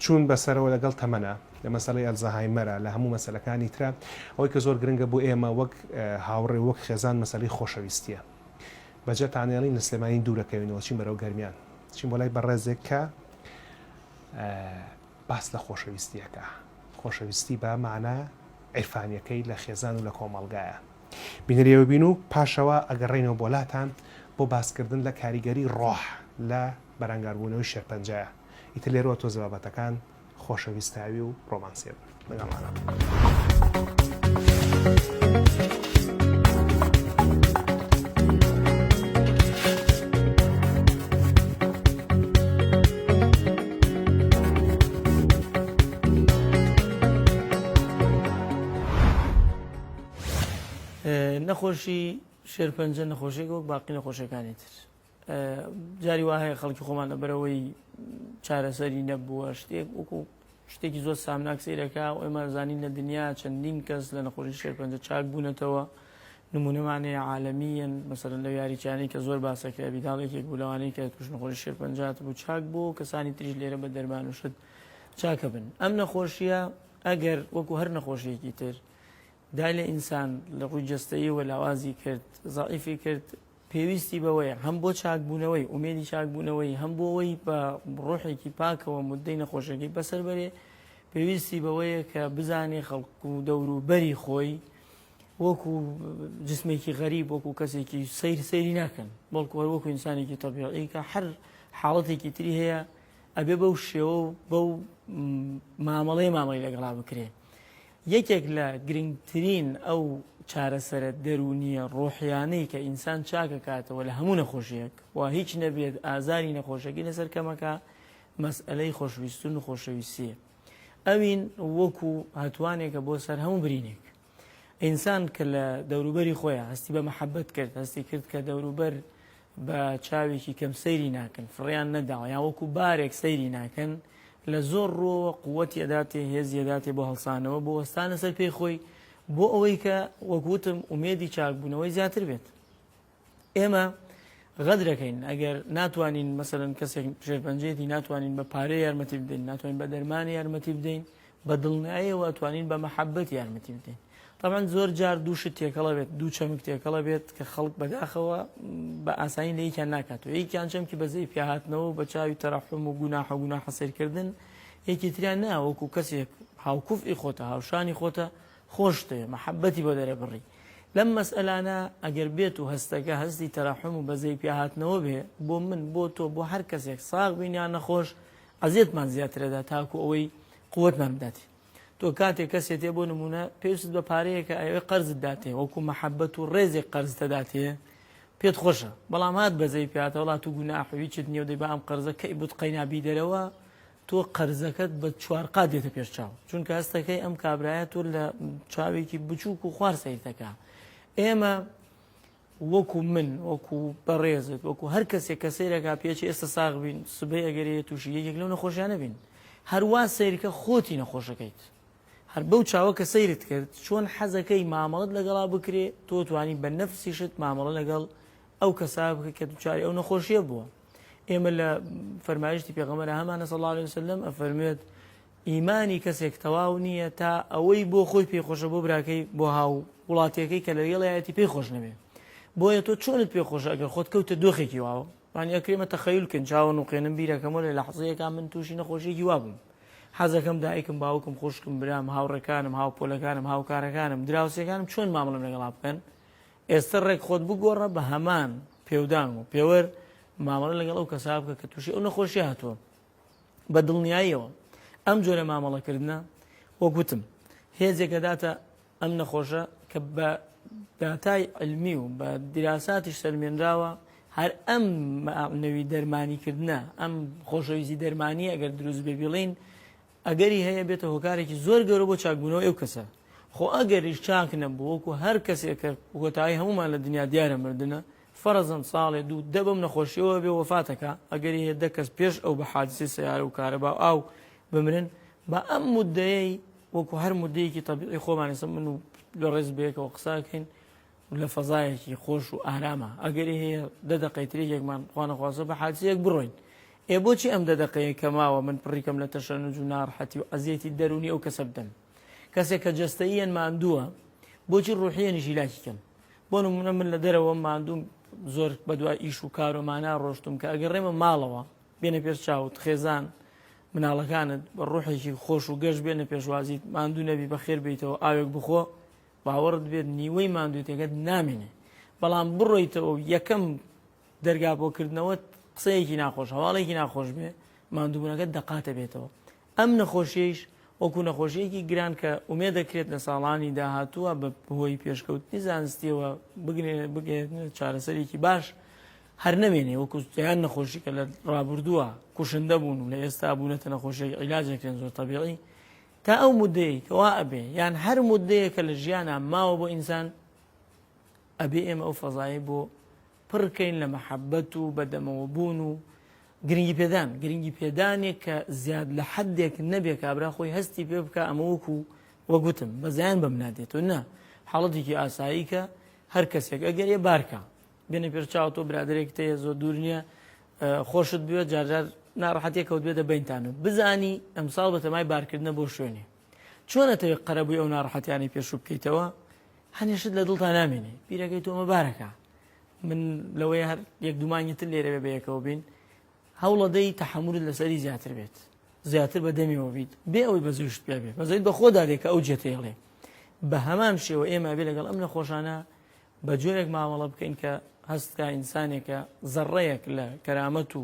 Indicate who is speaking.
Speaker 1: چوون بەسەرەوە لەگەڵ تەمەنە، لە مەسەلەی ئەلزەهایمەرە، لە هەموو مەسەلەکانی ترە، ئەوەی کە زۆر گرنگە بۆ ئێمە وەک هاوڕێ و وەک خێزان مەسەلەی خۆشەویستییە. بە جەتانێڵین لە سلێمانی دوور ئەکەوینەوە چین بەرەو گەرمیان، دەچین بۆ لای بەڕێزێک کە باس لە خۆشەویستی ئەکا، خۆشەویستی بە مانا عیرفانییەکەی لە خێزان و لە کۆمەڵگایە. بینەری ئەوە بین و پاشەوە ئەگەڕێینەوە بۆ لاتان بۆ باسکردن لە کاریگەری ڕۆح لە بەرانگاربوونەوەی شێرپەنجەیە. ئیتر لێرەوە تۆزێ بابەتەکان خۆشەویستاوی و ڕۆمانسیە بن لەگەڵمانە
Speaker 2: نەخۆشی شێرپەنجە نەخۆشێک وەک باقی نەخۆشیەکانی تر جاری وا هەیە خەڵکی خۆمان لەبەرەوەی چارەسەری نەبووە شتێک وەکو شتێکی زۆر سامناک سیرەکە و ئێمە زانین لە دنیا چەندین کەس لە نەخۆشی شێرپەنجە چاک بوونەتەوە نمونەمانەیە عاالمیەن مەسەر لە یاریچانی کە زۆر باسەکە بیداڵێکێک بولەوانی کە توش نەخۆشی شێرپەنجات بوو چاک بۆ کەسانی تریش لێرە بە دەرمان و شت چاکە بن ئەم نەخۆشیە ئەگەر وەکو هەر نەخۆشیەکی تر دای لە ئینسان لە ڕووی جستەیەوە لاوازی کرد زائیفی کرد پێویستی بەوەیە هەم بۆ چاکبوونەوەی، ئومێدی چاکبوونەوەی، هەم بۆ وەی بە ڕۆحێکی پاکەوە موددەی نەخۆشیەکەی بەسەر بەرێ، پێویستی بەوەیە کە بزانێ خەڵک و دەوروبەری خۆی وەکو جسمێکی غەریب وەکو کەسێکی سیر سیری ناکەن بەڵکو هەر وەکو ئینسانێکی تەبیعی کە هەر حاڵەتێکی تری هەیە ئەبێ بەو شێوە و بەو مامەڵەی مامەڵی لەگەڵا بکرێ یەکێک لە گرنگترین ئەو چارەسەرە دەروونییە ڕۆحییانەی کە ئینسان چاکەکاتەوە لە هەموو نەخۆشییەک وا هیچ نەبێت ئازاری نەخۆشەکەی لەسەر کەمەکا مەسئەلەی خۆشویستن و خۆشەویستییە ئەوین وەکو هەتوانێکە بۆ سەر هەموو برینێک ئینسان کە لە دەوروبەری خۆیان هەستی بە مەحەبەت کرد هەستی کرد کە دەوروبەر بە چاوێکی کەم سەیری ناکەن، فڕێیان نەداوە، یان وەکو بارێک سەیری ناکەن، لە زۆر ڕووەوە قووتی ئەداتێ، هێزی ئەداتێ بۆ هەڵسانەوە، بۆ وەستانە سەر پێی خۆی، بۆ ئەوەی کە وەک وتم ئومێدی چاکبوونەوەی زیاتر بێت. ئێمە غەدرەکەین ئەگەر ناتوانین مەسەلەن کەسێک ژێرپەنجەیەتی ناتوانین بە پارەی یارمەتی بدەین، ناتوانین بە دەرمانی یارمەتی بدەین، بە دڵنیایەوە توانین بە مەحەبەت یارمەتی بدەین تەبەن زۆر جار دوو شت تێکەڵە بێت دوو چەمک تێکەڵە بێت کە خەڵک بەداخەوە بە ئاسانی لە یەکیان ناکات و یەکیان چەمکی بەزەی پیاهاتنەوە بە چاوی تەرەحم و گوناح و گوناح حەسێرکردن یەکی تریان نا وەکو کەسێک هاوکوف ئی خۆتە هاوشانی خۆتە خۆشتێ محەبەتی بۆ دەرەبڕی لەم مەسئلانە ئەگەر بێت و هەستەکە هەستی تەراحم و بەزەی پیاهاتنەوە بێ بۆ من بۆ تۆ بۆ هەر کەسێک ساغ بینیان نەخۆش ئەزیەتمان زیاتر ئەدا تاکو ئەوەی قوتمان بداتێ تۆ کاتێک کەسێتێ بۆ نمونە پێویست بە پارەیەکە ئەوێ قەرزت داتێ وەکو مەحەبەت و ڕێزێک قەرزتە داتێ پێت خۆشە بەڵام هات بەزەی پێاتە وڵات و گوناحویچت نیێ دەی بە ئەم قەرزە کەی بوت قەینابی دەرەوە تۆ قەرزەکەت بە چوارقا دێتە پێش چاو چونکە هەستەکەی ئەم کابراایە تۆ لە چاوێکی بچووک و خوار سیرتەکە ئێمە وەکو من وەکو بەڕێزت وەکو هەر کەسێک کە سەیرەکا پێچێ ئێستا ساغ بین سبەی ئەگەرێ تووشی یەکێک لەو نەخۆشیانە بین هەروا سەیرکە خۆتی نەخۆشەکەیت هەر بەو چاوە کە سەیرت کرد چۆن حەزەکەی مامەڵت لەگەڵا بکرێ تۆ توانی بە نەفسیشت مامەڵە لەگەڵ ئەو کەسا بکە کە دوچاری ئەو نەخۆشیە بووە ئێمە لە فەرمایشتی پێغەمەرە هەمانە سەڵ عليه وسلم ئەفەرمێت ئیمانی کەسێک تەواو نییە تا ئەوەی بۆ خۆی پێی خۆشە بۆ براکەی بۆ هاو وڵاتیەکەی کە لەگەڵیایەتی پێی خۆش نەبێ بۆیە تۆ چۆنت پێ خۆشە ئەگەر خۆت کەوتە دۆخێکی واوە وانی ئەکرێ مە تەخەیول کەین چاوە نوقێنم بیرەکەمەوە لە لەحزەیەکا من تووشی نەخۆشیەکی وابووم حەزەکەم دایکم باوکم خوشکم برام هاوڕێکانم هاوپۆلەکانم هاوکارەکانم دراوسێکانم چۆن مامڵم لەگەڵا بکەن ئێستا ڕێک خۆت بگۆڕە بە هەمان پێودان و پێوەر مامەڵە لەگەڵ ئەو کەسا بکە کە تووشی ئەو نەخۆشی هاتووە بە دڵنیاییەوە ئەم جۆرە مامەڵەکردنە وەک وتم هێزێک دەداتە ئەم نەخۆشە کە بە داتای علمی و بە دیراساتیش سەلمێنراوە هەر ئەم نەوی دەرمانیکردە ئەم خۆشەویستی دەرمانی ئەگەر دروست بێ بڵین ئەگەری هەیە بێتە هۆکارێکی زۆر گەورە بۆ چاکبوونەوە ئەو کەسە خۆ ئەگەریش چاک نەبووکو هەر کەسێکە وەتای هەمومان لە دنیا دیارە مردە فەرەزەن ساڵێ دوو دە بەم نەخۆشیەوە بێ وەفات ئەکا، ئەگەری هەیە دە کەس پێش ئەو بە حادسەی سەیارە و کارەبا و ئاو بمرن، با ئەم موددەیەی وەکو هەر موددەیەکی تەبیعی خۆمان ئێستا من و لە ڕێز بەیەکەوە قسە ئەکەین و لە فەزایەکی خۆش و ئارامە ئەگەری هەیە دە دەقەی تر یەکمان خوا نەخواستە بە حادسەیەک بڕۆین ئێ بۆچی ئەم دە دەقەیە کە ماوە من پڕیکەم لە تەشەنوج و ناڕحەتی و عەزیەتی دەروونی ئەو کەسە بدەم کەسێک کە جەستەییەن ماندووە بۆچی ڕوحیەنیش هیلاکی کەن بۆ نمونە من لە دەرەوە ماندوم زۆر بەدوا ئیش و کارۆمانە ڕۆشتم کە ئەگەر ڕێمە ماڵەوە بێنە پێش چاوت خێزان مناڵەکانت بە ڕوحێکی خۆش و گەشت بێنە پێشوازیت ماندوو نەبی بە خێر بیتەوە ئاوێک بخۆ باوەڕت بێت نیوەی ماندووتێکەت نامێنێ بەڵام بڕۆیتەوە و یەکەم دەرگا بۆکردنەوە قسەیەکی ناخۆش هەواڵێکی ناخۆش بێ ماندووبوونەکە دەقاتە بێتەوە ئەم نەخۆشیەیش وەکو نەخۆشیەکی گران کە ئومێدەکرێت لە ساڵانی داهاتووە بە هۆی پێشکەوتنی زانستیەوە بگەێنێتە چارەسەرێکی باش، هەر نەمێنێ وەکو دەیان نەخۆشی کە لە ڕابردووە کوشندە بوون و لە ئێستا بوونەتە نەخۆشیەک عیلاجێکرێن زۆر تەبیعی، تا ئەو مودەیەی کە وا ئەبێ یان هەر مودەیەک کە لە ژیانا ماوە بۆ ئینسان، ئەبێ ئێمە ئەو فەزایەی بۆ پڕ کەین لە مەحەبەت و بەدەمەوە بوون و گرنگی پێدان گرنگی پێدانێک کە زیاد لە حدێک نەبێ کابرا خۆی هەستی پێ بکە ئەمە وەکو وەگوتم بەزیان بەم نادێت و نە حاڵەتێکی ئاسایی کە هەر کەسێک ئەگەر ێ بارکە بێنە پێر چاو تۆ برادێک تەیە زۆر دوور نییە خۆشت بوێت جارجار ناڕحەتێک کەوت بێتە بینتان و بزانی ئەمساڵ بە تەمای بارکردنە بۆ شوێنێ چۆن ئەتەوێ قەرەبووی ئەو ناڕەحەتیانەی پێشوو بکەیتەوە هەنێشت لە دڵتا نامێنێ بیرەکەی تۆمە بارەکە من لەوەی هەر یەک دومانگی تر لێرەوێ بەیەکەوە بین هەوڵەدەی تەحمورت لەسەری زیاتر بێت زیاتر بە دەمیەوە بیت بێ ئەوەی بەزوشت پێ بێ بەزوی بەخۆدا دێکە ئەو جێتێڵێ بە هەمان شێوە ئێمە بێ لەگەڵ ئەم نەخۆشانە بە جۆرێک مامەڵە بکەین کە هەستکە ئینسانێکە زەڕەیەک لە کەرامەت و